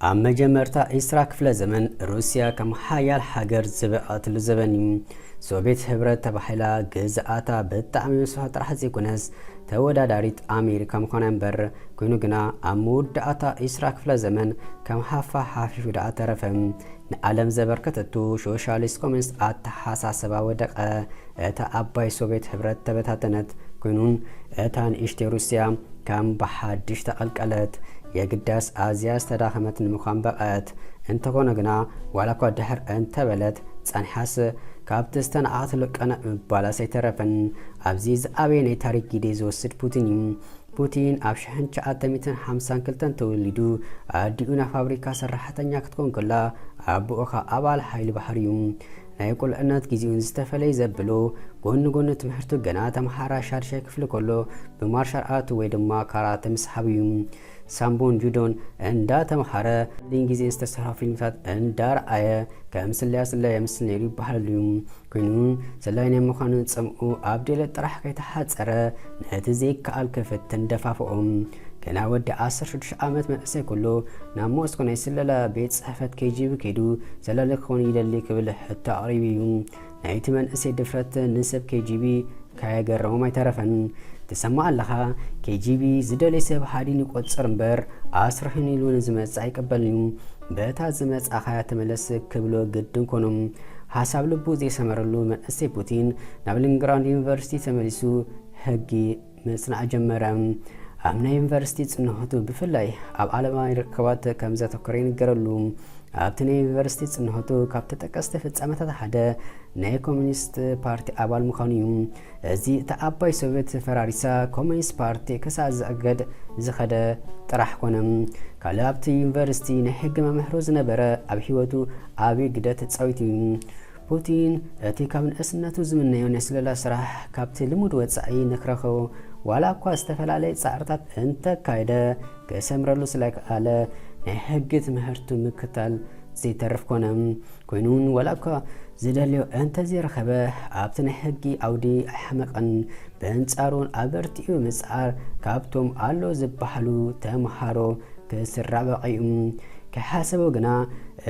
ኣብ መጀመርታ ዒስራ ክፍለ ዘመን ሩስያ ከም ሓያል ሃገር ዝበቐትሉ ዘበን እዩ ሶቪየት ህብረት ተባሂላ ግዝኣታ ብጣዕሚ ምስፋ ጥራሕ ዘይኮነስ ተወዳዳሪት ኣሜሪካ ምዃና እምበር ኮይኑ ግና ኣብ መወዳእታ ዒስራ ክፍለ ዘመን ከም ሃፋ ሓፊፉ ደኣ ተረፈ ንኣለም ዘበርከተቱ ሾሻሊስት ኮሚኒስት ኣተሓሳሰባ ወደቀ፣ እታ ኣባይ ሶቬት ሕብረት ተበታተነት፣ ኮይኑን እታ ንእሽተይ ሩሲያ ከም ብሓድሽ ተቀልቀለት፣ የግዳስ ኣዝያ ዝተዳኸመት ንምኳን በቐዐት፣ እንተኾነ ግና ዋላኳ ድሕር እንተበለት ጸኒሓስ ካብቲ ዝተናዓቀትሉ ቀነእ ምባላስ ኣይተረፈን፣ ኣብዚ ዝኣበየ ናይ ታሪክ ጊዴ ዝወስድ ፑቲን እዩ። ፑቲን ኣብ ሽሕን ትሽዓተ ሚእትን ሓምሳን ክልተን ተወሊዱ። ኣዲኡ ናይ ፋብሪካ ሰራሕተኛ ክትኮን ከላ፣ ኣቡኡ ከኣ ኣባል ሓይሊ ባሕሪ እዩ። ናይ ቁልዕነት ግዜኡ ንዝተፈለየ ዘብሎ፣ ጎኒ ጎኒ ትምህርቱ ገና ተመሃራይ ሻድሻይ ክፍሊ ከሎ ብማርሻል ኣርት ወይ ድማ ካራተ ምስሓብ እዩ። ሳምቦን ጁዶን እንዳተመሃረ፣ ሓሊን ግዜን ዝተሰርሑ ፊልምታት እንዳርኣየ ከም ስለያ ስለያ የምስል ነይሩ ይበሃለሉ እዩ። ኮይኑ ሰላዪ ናይ ምዃን ጽምኡ ኣብ ድሌት ጥራሕ ከይተሓጸረ ነቲ ዘይከኣል ክፍትን ደፋፍኦ። ገና ወዲ ዓሰርተ ሽዱሽተ ዓመት መንእሰይ ኩሉ ናብ ሞስኮ ናይ ስለላ ቤት ጽሕፈት ኬጂቢ ከይዱ ሰላሊ ክኸውን ይደሊ ክብል ሕቶ ኣቕሪቡ እዩ። ናይቲ መንእሰይ ድፍረት ንሰብ ኬጂቢ ካየገረሞም ኣይተረፈን ትሰማዕ ኣለኻ KGB ዝደልይ ሰብ ሃዲን ይቆጽር እምበር ኣስርሕን ኢሉ ንዝመጽእ ኣይቅበልን እዩ በታ ዝመጻኻያ ተመለስ ክብሎ ግድን ኮኖም ሃሳብ ልቡ ዘይሰመረሉ መንእሰይ ፑቲን ናብ ሊንግራንድ ዩኒቨርሲቲ ተመሊሱ ሕጊ ምጽናዕ ጀመረ ኣብ ናይ ዩኒቨርሲቲ ጽንሖቱ ብፍላይ ኣብ ዓለማዊ ርክባት ከም ዘተኮረ ይንገረሉ ኣብቲ ናይ ዩኒቨርሲቲ ጽንሖቱ ካብ ተጠቀስቲ ፍጻመታት ሓደ ናይ ኮሚኒስት ፓርቲ ኣባል ምዃኑ እዩ። እዚ እታ ኣባይ ሶቪየት ፈራሪሳ ኮሚኒስት ፓርቲ ክሳዕ ዝእገድ ዝኸደ ጥራሕ ኮነ። ካልእ ኣብቲ ዩኒቨርሲቲ ናይ ሕጊ መምህሩ ዝነበረ ኣብ ህይወቱ ዓብዪ ግደ ተጻዊቱ እዩ። ፑቲን እቲ ካብ ንእስነቱ ዝምነዮ ናይ ስለላ ስራሕ ካብቲ ልሙድ ወጻኢ ንክረኽቦ ዋላ እኳ ዝተፈላለየ ጻዕርታት እንተካየደ ክሰምረሉ ስለክኣለ ናይ ሕጊ ትምህርቱ ምክታል ዘይተርፍ ኮነ። ኮይኑውን ዋላኳ ዝደልዮ እንተዘይረኸበ ኣብቲ ናይ ሕጊ ዓውዲ ኣይሓመቐን። በንጻሩ ኣበርቲዑ ምጽዓር ካብቶም ኣሎ ዝበሃሉ ተምሃሮ ክስራበቐ እዩ። ከይሓሰቦ ግና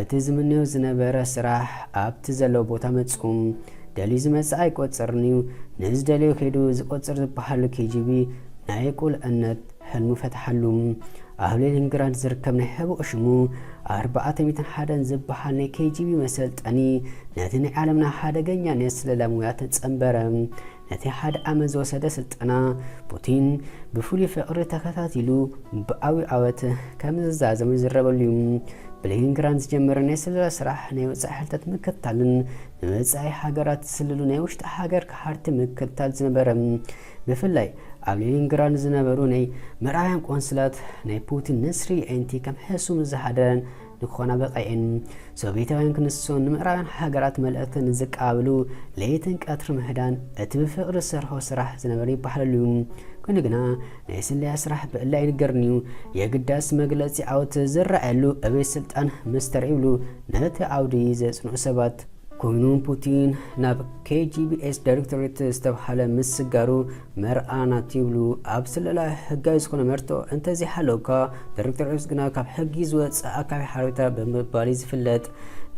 እቲ ዝምነዮ ዝነበረ ስራሕ ኣብቲ ዘለዎ ቦታ መጹ። ደልዩ ዝመጽኣ ኣይቆጽርን እዩ፣ ንዝደልዮ ከይዱ ዝቆጽር ዝበሃሉ ኬጂቢ ናይ ቁልዕነት ሕልሙ ፈትሓሉ። ኣብ ሌኒንግራድ ዝርከብ ናይ ሕቡእ ሽሙ ኣርባዕተ ሚእትን ሓደን ዝበሃል ናይ ኬጂቢ መሰልጠኒ ነቲ ናይ ዓለምና ሓደገኛ ናይ ስለላ ሙያ ተጸንበረ። ነቲ ሓደ ዓመት ዝወሰደ ስልጠና ፑቲን ብፍሉይ ፍቕሪ ተኸታቲሉ ብዓብዩ ዓወት ከም ዝዛዘሙ ይዝረበሉ እዩ። ብሌኒንግራድ ዝጀመረ ናይ ስለላ ስራሕ ናይ ወጻኢ ሓይልታት ምክትታልን ንወጻኢ ሃገራት ዝስልሉ ናይ ውሽጢ ሃገር ከሓድቲ ምክትታል ዝነበረ ብፍላይ ኣብ ሌኒንግራድ ዝነበሩ ናይ ምዕራባውያን ቆንስላት ናይ ፑቲን ነስሪ የዒንቲ ከም ሕሱም ዝሓደረን ንክኾና በቐኤን። ሶቬታውያን ክንሶን ንምዕራባውያን ሃገራት መልእኽቲ ንዝቀባበሉ ለይትን ቀትሪ ምህዳን እቲ ብፍቕሪ ዝሰርሖ ስራሕ ዝነበረ ይበሃለሉ እዩ። ኮይኑ ግና ናይ ስለያ ስራሕ ብዕሊ ኣይንገርን እዩ። የግዳስ መግለጺ ዓወት ዝረኣየሉ እበይ ስልጣን ምስ ተረእዩሉ ነቲ ዓውዲ ዘጽንዑ ሰባት ኮይኑ ፑቲን ናብ KGBS ዳይሬክቶሬት ዝተብሃለ ምስጋሩ መርኣናት ይብሉ። ኣብ ስለላ ህጋዊ ዝኾነ መርትዖ እንተዘይሃለውካ፣ ዳይሬክቶሬት ግና ካብ ሕጊ ዝወጽእ ኣካቢ ሓበሬታ ብምባል እዩ ዝፍለጥ።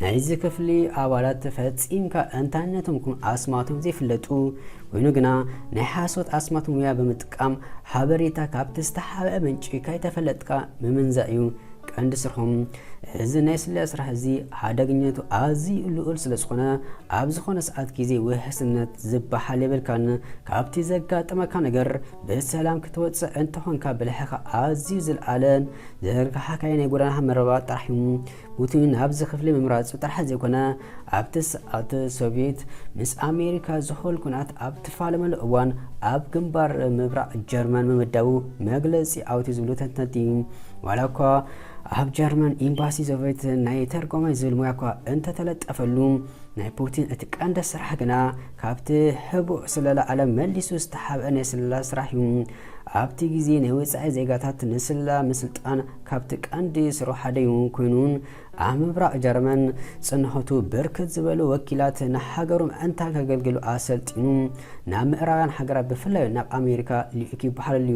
ናይዚ ክፍሊ ኣባላት ፈጺምካ እንታይነቶም ከም ኣስማቶም ዘይፍለጡ ኮይኑ ግና ናይ ሓሶት ኣስማት ሙያ ብምጥቃም ሓበሬታ ካብቲ ዝተሓብአ ምንጪ ከይተፈለጥካ ምምንዛዕ እዩ ቀንዲ ስርሖም። እዚ ናይ ስለያ ስራሕ እዚ ሓደገኛነቱ ኣዝዩ ልዑል ስለ ዝኾነ ኣብ ዝኾነ ሰዓት ግዜ ውሕስነት ዝበሃል የብልካን። ካብቲ ዘጋጥመካ ነገር ብሰላም ክትወጽእ እንተኾንካ ብልሕኻ ኣዝዩ ዝልዓለን ዝርግሓካይ ናይ ጎደና መረባ ጥራሕ እዩ። ፑቲን ናብዚ ክፍሊ ምምራጹ ጥራሕ ዘይኮነ ኣብቲ ሰዓት ሶቪየት ምስ ኣሜሪካ ዝሆል ኩናት ኣብ ትፋለመሉ እዋን ኣብ ግንባር ምብራቕ ጀርመን ምምዳቡ መግለጺ ኣውቲ ዝብሉ ተንተንቲ ዋላ እኳ ኣብ ጀርመን ኢምባሲ ዘቤት ናይ ተርጓማይ ዝብል ሙያ እኳ እንተተለጠፈሉ፣ ናይ ፑቲን እቲ ቀንዲ ስራሕ ግና ካብቲ ሕቡእ ስለላ ዓለም መሊሱ ዝተሓብአ ናይ ስለላ ስራሕ እዩ። ኣብቲ ግዜ ናይ ወጻኢ ዜጋታት ንስለላ ምስልጣን ካብቲ ቀንዲ ስርሑ ሓደ እዩ ኮይኑን ኣብ ምብራቕ ጀርመን ጽንሖቱ ብርክት ዝበሉ ወኪላት ንሃገሮም እንታ ከገልግሉ ኣሰልጢኑ ናብ ምዕራባውያን ሃገራት ብፍላይ ናብ ኣሜሪካ ልኢኹ ይበሃል ኣሎ።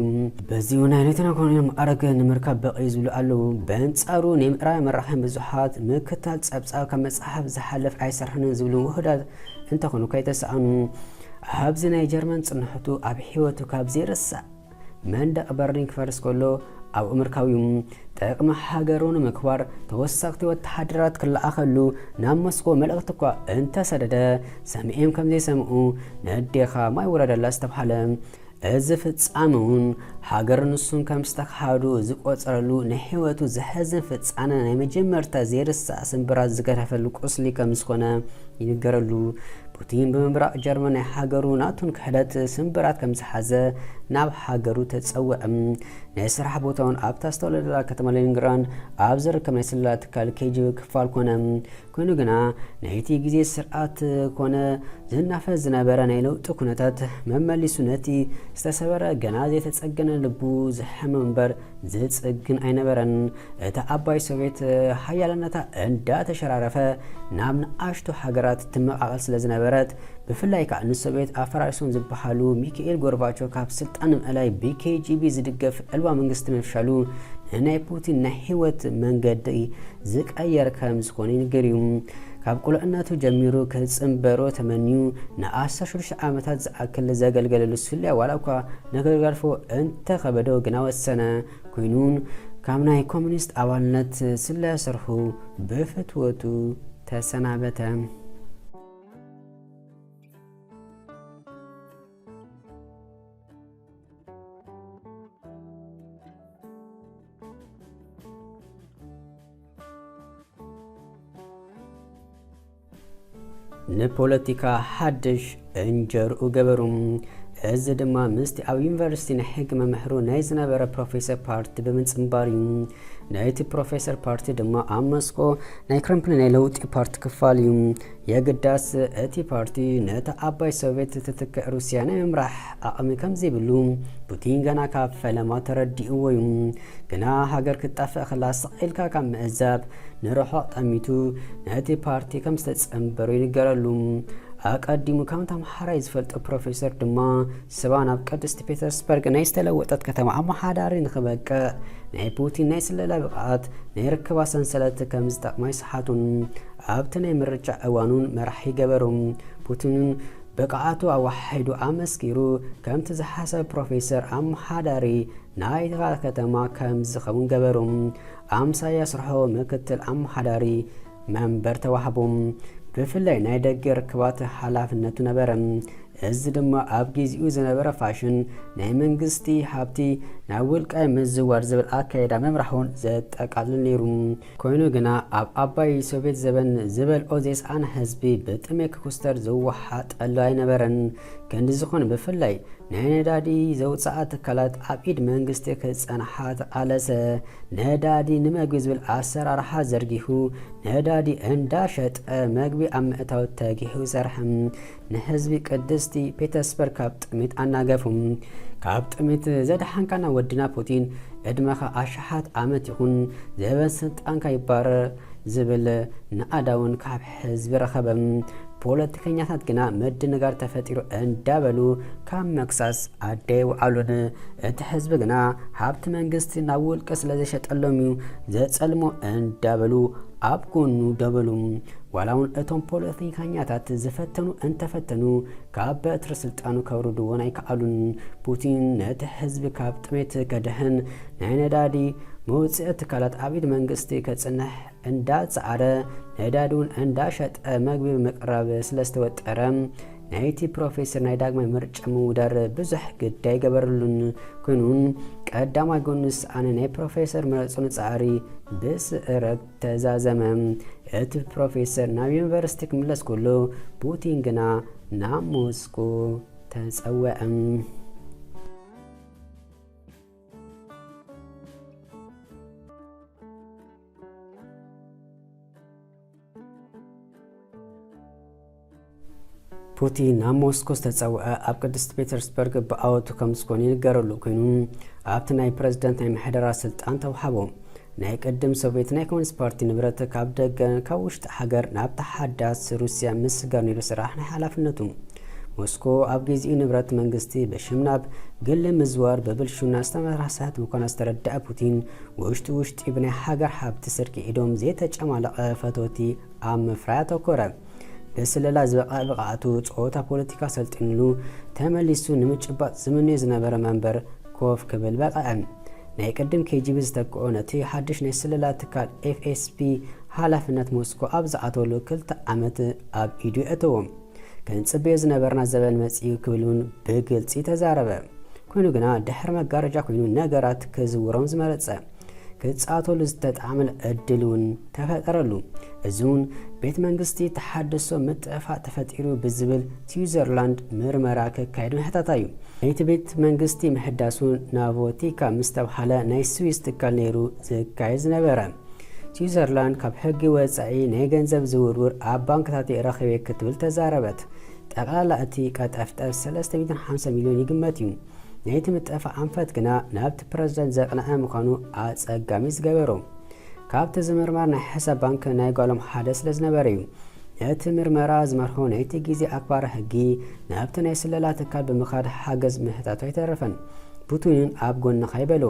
በዚ እውን ናይ ሌተና ኮሎኔል መዓርግ ንምርካብ በቒ ዝብሉ ኣለዉ። በንጻሩ ናይ ምዕራባውያን መራኸቢ ብዙሓት ምክታል ጸብጻብ ካብ መጽሓፍ ዝሓለፍ ኣይሰርሕንን ዝብሉ ውሑዳት እንተኾኑ ከይተሳእኑ ኣብዚ ናይ ጀርመን ጽንሖቱ ኣብ ሕይወቱ ካብ ዘይርሳዕ መንደቕ በርሊን ክፈርስ ከሎ ኣብ ኣመርካ'ዩ። ጥቕሚ ሃገሩ ንምክባር ተወሰኽቲ ወተሃደራት ክለኣኸሉ ናብ ሞስኮ መልእኽቲ እኳ እንተሰደደ ሰሚኤም ከምዘይሰምዑ ነዴኻ ማይ ውረደላ ዝተብሃለ እዚ ፍጻመ'ውን ሃገር ንሱን ከም ዝተኸሃዱ ዝቆጸረሉ ናይ ህይወቱ ዘሕዝን ፍጻነ ናይ መጀመርታ ዘይርሳዕ ስንብራት ዝገደፈሉ ቁስሊ ከም ዝኾነ ይንገረሉ። ፑቲን ብምብራቕ ጀርመን ናይ ሃገሩ ናቱን ክሕደት ስምብራት ከም ዝሓዘ ናብ ሃገሩ ተጸውዐ። ናይ ስራሕ ቦታውን ኣብታ ዝተወለደላ ከተማ ሌኒንግራንድ ኣብ ዝርከብ ናይ ስለላ ትካል ኬጂቢ ክፋል ኮነ። ኮይኑ ግና ናይቲ ግዜ ስርዓት ኮነ ዝናፈስ ዝነበረ ናይ ለውጢ ኩነታት መመሊሱ ነቲ ዝተሰበረ ገና ዘይተጸገነ ልቡ ዝሐመ እምበር ዘጽግን ኣይነበረን። እታ ዓባይ ሶቬት ሓያልነታ እንዳተሸራረፈ ናብ ንኣሽቱ ሃገራት ትመቓቐል ስለ ዝነበረት፣ ብፍላይ ከኣ ንሶቬት ኣፈራሪሶም ዝበሃሉ ሚኪኤል ጎርባቾ ካብ ስልጣን ንምእላይ ብኬጂቢ ዝድገፍ ዕልዋ መንግስቲ ምፍሻሉ ንናይ ፑቲን ናይ ህይወት መንገዲ ዝቀየር ከም ዝኾነ ይንገር እዩ። ካብ ቁልዕነቱ ጀሚሩ ክጽንበሮ ተመንዩ ንኣስታት ሽዱሽተ ዓመታት ዝኣክል ዘገልገለሉ ሱልያ ዋላ'ኳ ንክገርፎ እንተኸበዶ ግና'ወ ዝሰነ ኩይኑን ካብ ናይ ኮሚኒስት ኣባልነት ስለያ ስርሑ ብፍትወቱ ተሰናበተ። ንፖለቲካ ሓድሽ እንጀርኡ ገበሩ እዚ ድማ ምስቲ ኣብ ዩኒቨርሲቲ ናይ ሕጊ መምህሩ ናይ ዝነበረ ፕሮፌሰር ፓርቲ ብምጽንባር እዩ ናይቲ ፕሮፌሰር ፓርቲ ድማ ኣብ መስኮ ናይ ክረምፕሊ ናይ ለውጢ ፓርቲ ክፋል እዩ የግዳስ፣ እቲ ፓርቲ ነታ ኣባይ ሶቭየት እትትክእ ሩስያ ናይ ምምራሕ ዓቕሚ ከም ዘይብሉ ፑቲን ገና ካብ ፈለማ ተረዲእዎ እዩ። ግና ሃገር ክትጠፍእ ከላ ስቕ ኢልካ ካብ ምዕዛብ ንርሑቕ ጠሚቱ ነቲ ፓርቲ ከም ዝተጸንበሮ ይንገረሉ። ኣቀዲሙ ከም ተምሓራይ ዝፈልጦ ፕሮፌሰር ድማ ስባ ናብ ቅድስቲ ፔተርስበርግ ናይ ዝተለወጠት ከተማ ኣመሓዳሪ ንክበቅዕ ናይ ፑቲን ናይ ስለላ ብቕዓት ናይ ርክባ ሰንሰለት ከም ዝጠቕማ ይስሓቱን ኣብቲ ናይ ምርጫ እዋን'ውን መራሒ ገበሩ። ፑቲን'ውን ብቕዓቱ ኣወሓሒዱ ኣመስኪሩ፣ ከምቲ ዝሓሰበ ፕሮፌሰር ኣመሓዳሪ ናይታ ከተማ ከም ዝኸውን ገበሩ። ኣምሳያ ስርሑ ምክትል ኣመሓዳሪ መንበር ተዋህቡ። ብፍላይ ናይ ደገ ርክባት ሓላፍነቱ ነበረ። እዚ ድማ ኣብ ግዜኡ ዝነበረ ፋሽን ናይ መንግስቲ ሃብቲ ናብ ውልቃይ ምዝዋር ዝብል ኣካይዳ ምምራሕ'ውን ዘጠቃልል ነይሩ። ኮይኑ ግና ኣብ ኣባይ ሶቬት ዘበን ዝበልኦ ዘይሰኣነ ህዝቢ ብጥሜ ክኩስተር ዝወሓጠሉ ኣይነበረን። ክንዲ ዝኹን ብፍላይ ናይ ነዳዲ ዘውጽኣ ትካላት ኣብ ኢድ መንግስቲ ክጸንሓ ተቓለሰ። ነዳዲ ንመግቢ ዝብል ኣሰራርሓ ዘርጊሑ ነዳዲ እንዳሸጠ መግቢ ኣብ ምእታው ተጊሑ ሰርሐ። ንህዝቢ ቅድስቲ ፔተስበር ካብ ጥሜት ኣናገፉ። ካብ ጥሜት ዘድሓንካና ወድና ፑቲን ዕድመኻ ኣሽሓት ኣመት ይኹን ዘበን ስልጣንካ ይባረር ዝብል ንኣዳውን ካብ ህዝቢ ረኸበ። ፖለቲከኛታት ግና ምድንጋር ተፈጢሩ እንዳበሉ ካብ መክሳስ ኣደይ ውዓሉን። እቲ ህዝቢ ግና ሃብቲ መንግስቲ ናብ ውልቀ ስለዘሸጠሎም እዩ ዘጸልሞ እንዳበሉ ኣብ ጎኑ ደበሉ። ዋላውን እቶም ፖለቲካኛታት ዝፈተኑ እንተፈተኑ ካብ በትሪ ስልጣኑ ከውርድዎን ኣይከኣሉን። ፑቲን ነቲ ህዝቢ ካብ ጥሜት ከድሕን ናይ ነዳዲ መውጽኢ ትካላት ኣብ ኢድ መንግስቲ ከጽንሕ እንዳጸዓረ ነዳዲውን እንዳሸጠ መግቢ ምቅራብ ስለዝተወጠረ ናይቲ ፕሮፌሰር ናይ ዳግማይ ምርጫ ምውዳር ብዙሕ ግዲ ኣይገበረሉን። ኮይኑ ቀዳማይ ጎንስ ኣነ ናይ ፕሮፌሰር ምረጹኒ ጻዕሪ ብስእረት ተዛዘመ። እቲ ፕሮፌሰር ናብ ዩኒቨርሲቲ ክምለስ ከሎ፣ ፑቲን ግና ናብ ሞስኮ ተጸውዐ። ፑቲን ናብ ሞስኮ ዝተጸውዐ ኣብ ቅድስቲ ፔተርስበርግ ብኣወቱ ከም ዝኾነ ይንገረሉ ኮይኑ ኣብቲ ናይ ፕረዚደንት ናይ ምሕደራ ስልጣን ተውሃቦ ናይ ቅድም ሶቪየት ናይ ኮሚኒስት ፓርቲ ንብረት ካብ ደገ ካብ ውሽጢ ሃገር ናብ ተሓዳስ ሩስያ ምስጋር ነይሩ ስራሕ ናይ ሓላፍነቱ ሞስኮ ኣብ ግዚኡ ንብረት መንግስቲ በሽም ናብ ግሊ ምዝዋር ብብልሹና ዝተመራሕሰት ምዃና ዝተረድዐ ፑቲን ውሽጢ ውሽጢ ብናይ ሃገር ሃብቲ ስርቂ ኢዶም ዘይተጨማለቐ ፈተውቲ ኣብ ምፍራይ ኣተኮረ። ብስለላ ዝበቕዐ ብቕዓቱ ጸወታ ፖለቲካ ሰልጢንሉ ተመሊሱ ንምጭባጥ ዝምነዮ ዝነበረ መንበር ኮፍ ክብል በቕዐ። ናይ ቅድም ኬጂቢ ዝተክኦ ነቲ ሓድሽ ናይ ስለላ ትካል ኤፍኤስቢ ሓላፍነት ሞስኮ ኣብ ዝኣተወሉ ክልተ ዓመት ኣብ ኢዱ የእተዎ። ክንጽበዮ ዝነበርና ዘበን መጺኡ ክብል እውን ብግልጺ ተዛረበ። ኮይኑ ግና ድሕሪ መጋረጃ ኮይኑ ነገራት ክዝውሮም ዝመረጸ፣ ክጻተሉ ዝተጣዕመል ዕድል እውን ተፈጠረሉ። እዚ እውን ቤት መንግስቲ ተሓድሶ ምጥዕፋእ ተፈጢሩ ብዝብል ስዊዘርላንድ ምርመራ ከካየድ ምሕታታ እዩ። ናይቲ ቤት መንግስቲ ምሕዳሱ ናቮቲካ ምስ ተብሃለ ናይ ስዊዝ ትካል ነይሩ ዝካየድ ዝነበረ። ስዊዘርላንድ ካብ ሕጊ ወጻኢ ናይ ገንዘብ ዝውርውር ኣብ ባንክታት'የ ረኺበ ክትብል ተዛረበት። ጠቕላላ እቲ ቀጠፍጠፍ ሰለስተ ሚእትን ሓምሳን ሚልዮን ይግመት እዩ። ናይቲ ምጥፋእ ኣንፈት ግና ናብቲ ፕረዚደንት ዘቕነዐ ምዃኑ ኣጸጋሚ ዝገበሮ፣ ካብቲ ዝምርመር ናይ ሕሳብ ባንክ ናይ ጓሎም ሓደ ስለ ዝነበረ እዩ። ነቲ ምርመራ ዝመርሖ ናይቲ ግዜ ኣክባሪ ሕጊ ናብቲ ናይ ስለላ ትካል ብምኻድ ሓገዝ ምሕታቱ ኣይተረፈን። ፑቲንን ኣብ ጎንኻ ይበሎ።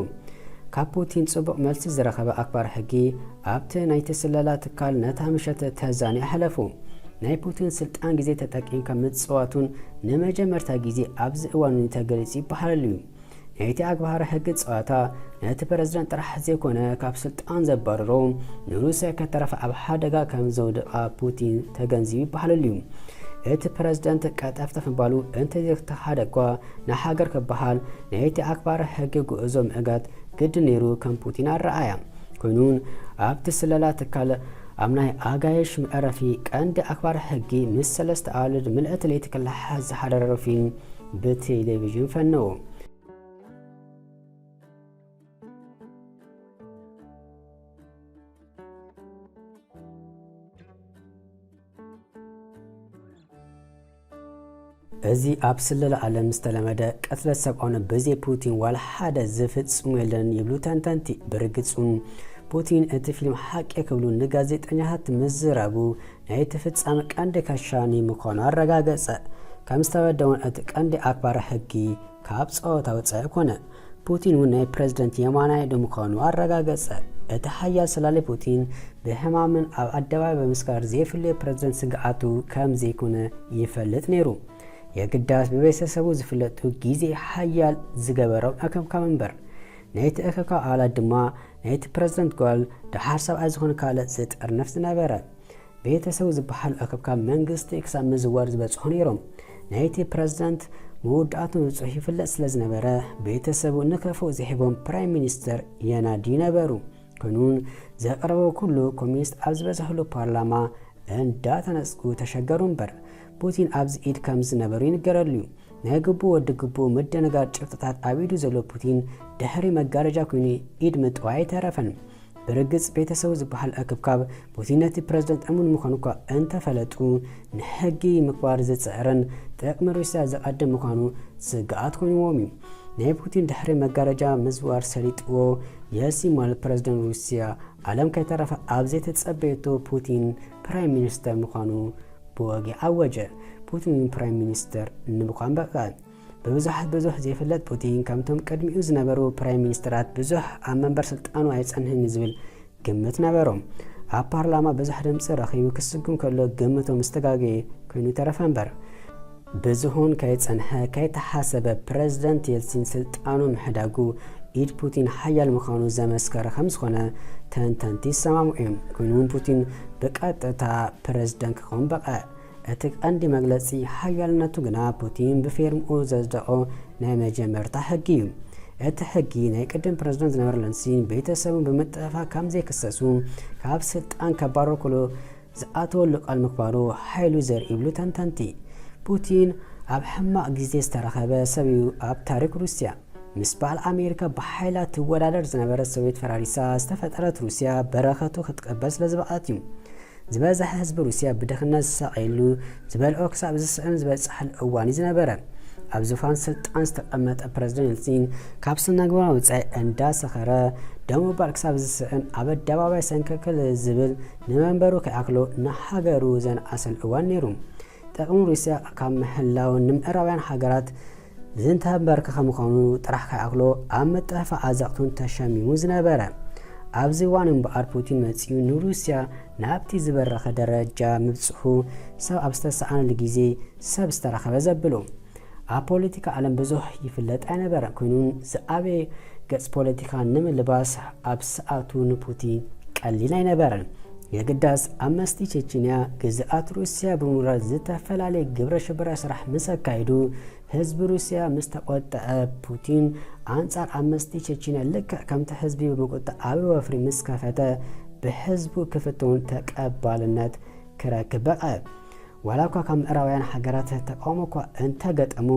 ካብ ፑቲን ጽቡቕ መልሲ ዝረኸበ ኣክባሪ ሕጊ፣ ኣብቲ ናይቲ ስለላ ትካል ነታ ምሸት ተዛንዮ ኣሕለፉ። ናይ ፑቲን ስልጣን ግዜ ተጠቂምካ ምጽዋቱን ንመጀመርታ ግዜ ኣብዚ እዋን'ዚ ተገሊጹ ይበሃለሉ እዩ። ናይቲ ኣግባህራ ሕጊ ጸዋታ ነቲ ፕረዚደንት ጥራሕ ዘይኮነ ካብ ስልጣን ዘባርሮ ንሩስያ ከተረፍ ኣብ ሓደጋ ከም ዘውድቓ ፑቲን ተገንዚቡ ይበሃለሉ እዩ። እቲ ፕረዚደንት ቀጠፍተፍ ምባሉ እንተዘይተኻሓደ እኳ ንሃገር ክበሃል ናይቲ ኣክባሪ ሕጊ ጉዕዞ ምዕጋት ግድን ነይሩ ከም ፑቲን ኣረኣያ ኮይኑን ኣብቲ ስለላ ትካል ኣብ ናይ ኣጋይሽ መዕረፊ ቀንዲ ኣክባር ሕጊ ምስ ሰለስተ ኣዋልድ ምልእቲ ለይቲ ክለሓሓዝ ዝሓደረሮ ፊልም ብቴሌቪዥን ፈነዉ። እዚ ኣብ ስለላ ዓለም ዝተለመደ ቅትለት ሰብኣውነ ብዘይ ፑቲን ዋላ ሓደ ዝፍጽሙ የለን ይብሉ ተንተንቲ። ብርግጽ እውን ፑቲን እቲ ፊልም ሓቂ ክብሉ ንጋዜጠኛታት ምዝራቡ ናይቲ ፍጻመ ቀንዲ ከሻኒ ምዃኑ ኣረጋገጸ። ከም ዝተበደ እውን እቲ ቀንዲ ኣክባሪ ሕጊ ካብ ጸወታ ወጻኢ ኮነ። ፑቲን እውን ናይ ፕረዚደንት የማናይ ኢዱ ምዃኑ ኣረጋገጸ። እቲ ሓያል ሰላሊ ፑቲን ብሕማምን ኣብ ኣደባባይ ብምስካር ዘይፍለዮ ፕረዚደንት ስግኣቱ ከም ዘይኮነ ይፈልጥ ነይሩ። የግዳስ ብቤተሰቡ ዝፍለጡ ግዜ ሓያል ዝገበሮም እክብካብ እምበር። ነቲ እክብካብ ኣባላት ድማ ናይቲ ፕረዚደንት ጓል፣ ደሓር ሰብኣይ ዝኾነ ካልእ ዝጥርንፍ ዝነበረ። ቤተሰቡ ዝበሃሉ ኣከብካብ መንግስቲ ክሳብ ምዝዋር ዝበጽሑ ነይሮም። ናይቲ ፕረዚደንት መወዳእቱ ንጹህ ይፍለጥ ስለ ዝነበረ፣ ቤተሰቡ ንከፍኡ ዘይሂቦም ፕራይም ሚኒስተር የናድዩ ነበሩ። ክንውን ዘቕረቦ ኩሉ ኮሚኒስት ኣብ ዝበዝሕሉ ፓርላማ እንዳተነጽጉ ተሸገሩ እምበር፣ ፑቲን ኣብዚ ኢድ ከም ዝነበሩ ይንገረሉ'ዩ። ናይ ግቡእ ወዲ ግቡእ ምድንጋር ጭብጥታት ኣብ ኢዱ ዘሎ ፑቲን፣ ድሕሪ መጋረጃ ኩይኑ ኢድ ምጥዋይ ኣይተረፈን። ብርግጽ ቤተሰቡ ዝበሃል እክብካብ ፑቲን ነቲ ፕረዚደንት እሙን ምዃኑ እኳ እንተፈለጡ ንሕጊ ምኽባር ዝጽዕርን ጥቕሚ ሩስያ ዘቐድም ምዃኑ ስግኣት ኮይንዎም እዩ። ናይ ፑቲን ድሕሪ መጋረጃ ምዝዋር ሰሊጥዎ የሲማል ፕረዚደንት ሩስያ ዓለም ከይተረፈ ኣብ ዘይተጸበየቶ ፑቲን ፕራይም ሚኒስተር ምዃኑ ብወግዒ ኣወጀ። ፑቲን ፕራይም ሚኒስተር ንምዃን በቕዐ። ብብዙሓት ብዙሕ ዘይፍለጥ ፑቲን ከምቶም ቅድሚኡ ዝነበሩ ፕራይም ሚኒስተራት ብዙሕ ኣብ መንበር ስልጣኑ ኣይጸንሕን ዝብል ግምት ነበሮ። ኣብ ፓርላማ ብዙሕ ድምጺ ረኺቡ ክስጉም ከሎ ግምቱ ምስ ተጋገየ ኮይኑ ተረፈ እምበር። ብዝሁን ከይጸንሐ ከይተሓሰበ ፕረዚደንት የልሲን ስልጣኑ ምሕዳጉ ኢድ ፑቲን ሓያል ምዃኑ ዘመስከረ ከም ዝኾነ ተንተንቲ ይሰማምዑ እዮም። ኮይኑውን ፑቲን ብቀጥታ ፕረዚደንት ክኸውን በቐዕ። እቲ ቀንዲ መግለጺ ሓያልነቱ ግና ፑቲን ብፌርምኡ ዘጽደቖ ናይ መጀመርታ ሕጊ እዩ። እቲ ሕጊ ናይ ቅድም ፕረዚደንት ዝነበረ ለንሲን ቤተሰቡን ብምጥፍፋእ ከም ዘይክሰሱ ካብ ስልጣን ከባሮ ክሉ ዝኣተወሉ ቃል ምክባሩ ሓይሉ ዘርኢ ይብሉ ተንተንቲ። ፑቲን ኣብ ሕማቕ ግዜ ዝተረኸበ ሰብ እዩ ኣብ ታሪክ ሩስያ። ምስ በዓል ኣሜሪካ ብሓይላ ትወዳደር ዝነበረት ሶቬት ፈራሪሳ ዝተፈጠረት ሩስያ በረኸቱ ክትቀበል ስለዝበቕዐት እዩ። ዝበዝሐ ህዝቢ ሩስያ ብድኽነት ዝሳቐየሉ፣ ዝበልዖ ክሳብ ዝስእን ዝበጽሓሉ እዋን እዩ ዝነበረ። ኣብ ዙፋን ስልጣን ዝተቐመጠ ፕረዚደንት የልጺን፣ ካብ ስነግብራ ወጻኢ እንዳሰኸረ፣ ደው ምባል ክሳብ ዝስእን ኣብ ኣደባባይ ሰንከልከል ዝብል፣ ንመንበሩ ከይኣክሎ ንሃገሩ ዘንኣሰሉ እዋን ነይሩ። ጥቕሚ ሩስያ ካብ ምሕላው፣ ንምዕራባውያን ሃገራት ዝንተ ኣምበርክኸ ምዃኑ ጥራሕ ከይኣክሎ ኣብ ምጥፍፋእ ኣዘቕቱን ተሸሚሙ ዝነበረ ኣብዚ እዋን እምበኣር ፑቲን መጺኡ ንሩስያ ናብቲ ዝበረኸ ደረጃ ምብጽሑ ሰብ ኣብ ዝተሰኣነሉ ግዜ ሰብ ዝተረኸበ ዘብሉ ኣብ ፖለቲካ ዓለም ብዙሕ ይፍለጥ ኣይነበረ ኮይኑ ዝኣበየ ገጽ ፖለቲካ ንምልባስ ኣብ ሰዓቱ ንፑቲን ቀሊል ኣይነበረን የግዳስ ኣብ መስቲ ቼችንያ ግዝኣት ሩስያ ብምውራር ዝተፈላለየ ግብረ ሽበራ ስራሕ ምስ ኣካይዱ ህዝቢ ሩስያ ምስ ተቆጠዐ ፑቲን ኣንጻር ኣብ መስቲ ቼችንያ ልክዕ ከምቲ ህዝቢ ብምቁጣዕ ኣብ ወፍሪ ምስ ከፈተ ብህዝቡ ክፍትውን ተቀባልነት ክረክብ በቐ ዋላ እኳ ካብ ምዕራባውያን ሃገራት ተቃውሞ እኳ እንተገጠሙ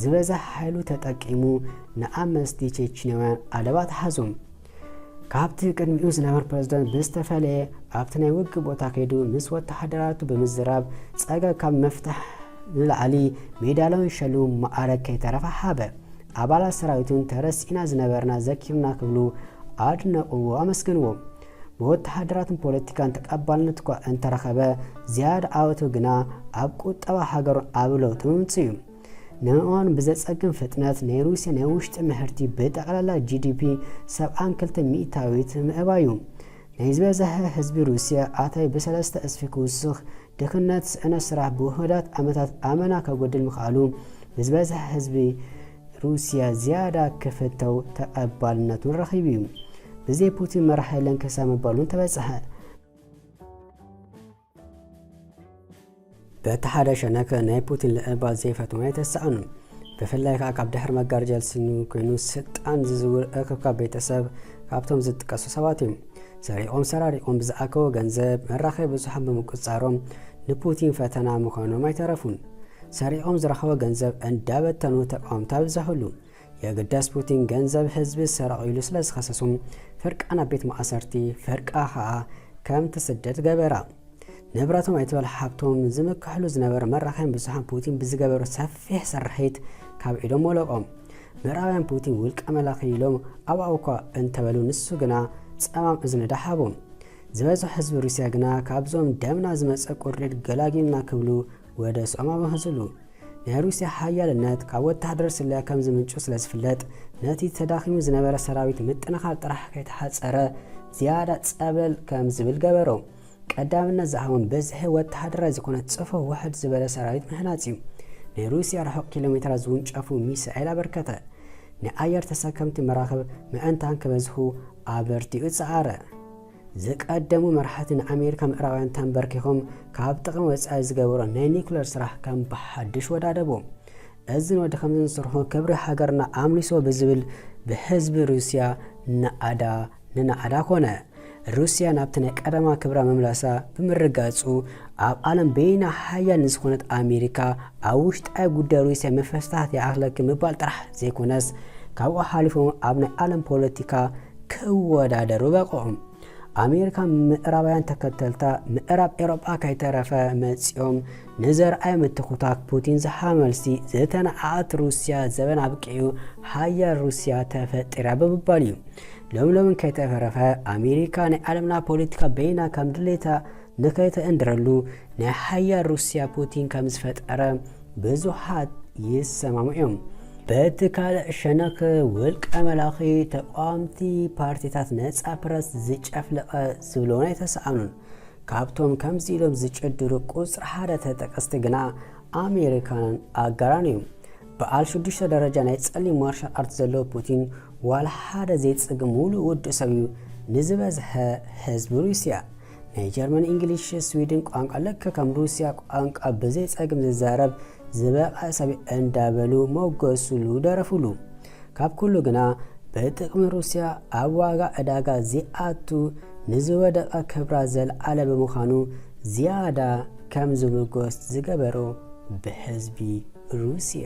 ዝበዛ ሓይሉ ተጠቂሙ ንኣመስቲ ቼችንያውያን ኣደባት ሓዙም ካብቲ ቅድሚኡ ዝነበረ ፕረዚደንት ብዝተፈለየ ኣብቲ ናይ ውግእ ቦታ ከይዱ ምስ ወተሃደራቱ ብምዝራብ ጸገብ ካብ ምፍታሕ ንላዕሊ ሜዳልያውን ሸልሙን መዓረግ ከይተረፈ ሃበ። ኣባላት ሰራዊቱን ተረሲዕና ዝነበርና ዘኪሩና ክብሉ ኣድነቕዎ ኣመስገንዎ። ብወተሃደራትን ፖለቲካን ተቐባልነት እኳ እንተረኸበ ዝያዳ ዓወቱ ግና ኣብ ቁጠባ ሃገሩን ኣብ ለውጢ ምምጽኡ'ዩ። ንምእማኑ ብዘጸግም ፍጥነት ናይ ሩስያ ናይ ውሽጢ ምህርቲ ብጠቕላላ ጂዲፒ ሰብዓን ክልተ ሚእታዊት ምእባዩ፣ ናይ ዝበዘሐ ህዝቢ ሩስያ ኣታዊ ብሰለስተ እስፊ ክውስኽ፣ ድኽነት፣ ስእነት ስራሕ ብውሑዳት ዓመታት ኣመና ከጎድል ምኽኣሉ፣ ብዝበዘሐ ህዝቢ ሩስያ ዝያዳ ክፍተው ተቐባልነቱን ረኺቡ'ዩ። ብዘይ ፑቲን መራሒ የለን ክሳብ ምባል'ውን ተበጸሐ። በቲ ሓደ ሸነክ ናይ ፑቲን ልዕልባት ዘይፈትዋ የተሰኣኑ ብፍላይ ከዓ ካብ ድሕሪ መጋረጃ ዝስኑ ኮይኑ ስልጣን ዝዝውር እክብካብ ቤተሰብ ካብቶም ዝጥቀሱ ሰባት እዮም ሰሪቆም ሰራሪቆም ብዝኣከቦ ገንዘብ መራኸቢ ብዙሓን ብምቁፅፃሮም ንፑቲን ፈተና ምዃኖም ኣይተረፉን ሰሪቆም ዝረኸቦ ገንዘብ እንዳበተኑ ተቃወምቲ ኣብዘሕሉ የግዳስ ፑቲን ገንዘብ ህዝቢ ሰረቑ ኢሉ ስለ ዝኸሰሶ ፍርቃ ናብ ቤት ማእሰርቲ ፍርቃ ከኣ ከም ትስደድ ገበራ። ንብረቶም ኣይትበል ሃብቶም ዝምክሕሉ ዝነበረ መራኸቢ ብዙሓን ፑቲን ብዝገበሮ ሰፊሕ ስርሒት ካብ ኢዶም ወለቆም። ምዕራባውያን ፑቲን ውልቀ መላኺ ኢሎም ኣብኣው እኳ እንተበሉ ንሱ ግና ጸማም እዝኒ ደሓቦም። ዝበዝሑ ህዝቢ ሩስያ ግና ካብዞም ደምና ዝመጸ ቁርዲድ ገላጊሉና ክብሉ ወደ ጾማ ምህዝሉ ናይ ሩስያ ሓያልነት ካብ ወተሃደር ስለ ከም ዝምንጩ ስለ ዝፍለጥ ነቲ ተዳኺሙ ዝነበረ ሰራዊት ምጥንኻር ጥራሕ ከይተሓጸረ ዝያዳ ጸብለል ከም ዝብል ገበሮ። ቀዳምነት ዝሃቦም ብዝሒ ወተሃደራይ ዝኾነ ጽፉፍ ውሕድ ዝበለ ሰራዊት ምህናጽ እዩ። ናይ ሩስያ ርሑቕ ኪሎ ሜትራት ዝውንጨፉ ሚሳኤል ኣበርከተ። ናይ ኣየር ተሰከምቲ መራኽብ ምዕንታን ክበዝሑ ኣበርቲዑ ጸዓረ። ዝቀደሙ መራሕቲ ንኣሜሪካ ምዕራባውያን ተንበርኪኾም ካብ ጥቕሚ ወፃኢ ዝገበሮ ናይ ኒኩለር ስራሕ ከም ብሓድሽ ወዳደቡ። እዝን ወዲ ከምዝን ስርሑ ክብሪ ሃገርና ኣምሊሶ ብዝብል ብህዝቢ ሩስያ ናኣዳ ንናኣዳ ኮነ። ሩስያ ናብቲ ናይ ቀደማ ክብራ ምምላሳ ብምርጋፁ ኣብ ዓለም በይና ሓያል ንዝኾነት ኣሜሪካ ኣብ ውሽጣዊ ጉዳይ ሩስያ ምፍስታት ይኣኽለኪ ምባል ጥራሕ ዘይኮነስ ካብኡ ሓሊፎም ኣብ ናይ ዓለም ፖለቲካ ክወዳደሩ በቕዑ። ኣሜሪካ ምዕራባውያን ተከተልታ ምዕራብ ኤሮጳ ከይተረፈ መጺኦም ንዘርኣይ ምትኩታክ ፑቲን ዝሓመልሲ ዝተነዓቐት ሩስያ ዘበን ኣብቂዑ ሃያል ሩስያ ተፈጢራ ብምባል እዩ። ሎምሎምን ከይተፈረፈ ኣሜሪካ ናይ ዓለምና ፖለቲካ በይና ከም ድሌታ ንከይተእንድረሉ ናይ ሓያል ሩስያ ፑቲን ከም ዝፈጠረ ብዙሓት ይሰማምዑ እዮም። በቲ ካልእ ሸነኽ ውልቀ መላኺ ተቃዋምቲ ፓርቲታት ነጻ ፕረስ ዝጨፍለቐ ዝብሎን ኣይተሰኣኑን። ካብቶም ከምዚ ኢሎም ዝጭድሩ ቁጽሪ ሓደ ተጠቀስቲ ግና ኣሜሪካንን ኣጋራን እዮም። በዓል ሽዱሽተ ደረጃ ናይ ጸሊም ማርሻል ኣርት ዘለዎ ፑቲን ዋላ ሓደ ዘይጽግ ሙሉእ ውዱእ ሰብ እዩ ንዝበዝሐ ህዝቢ ሩስያ። ናይ ጀርመን እንግሊሽ ስዊድን ቋንቋ ልክ ከም ሩስያ ቋንቋ ብዘይ ጸግም ዝዛረብ ዝበቐ ሰብ እንዳበሉ ሞገሱሉ ደረፉሉ። ካብ ኩሉ ግና ብጥቕሚ ሩስያ ኣብ ዋጋ ዕዳጋ ዚኣቱ ንዝወደቐ ክብራ ዘልዓለ ብምዃኑ ዝያዳ ከም ዝምጎስ ዝገበሮ ብህዝቢ ሩስያ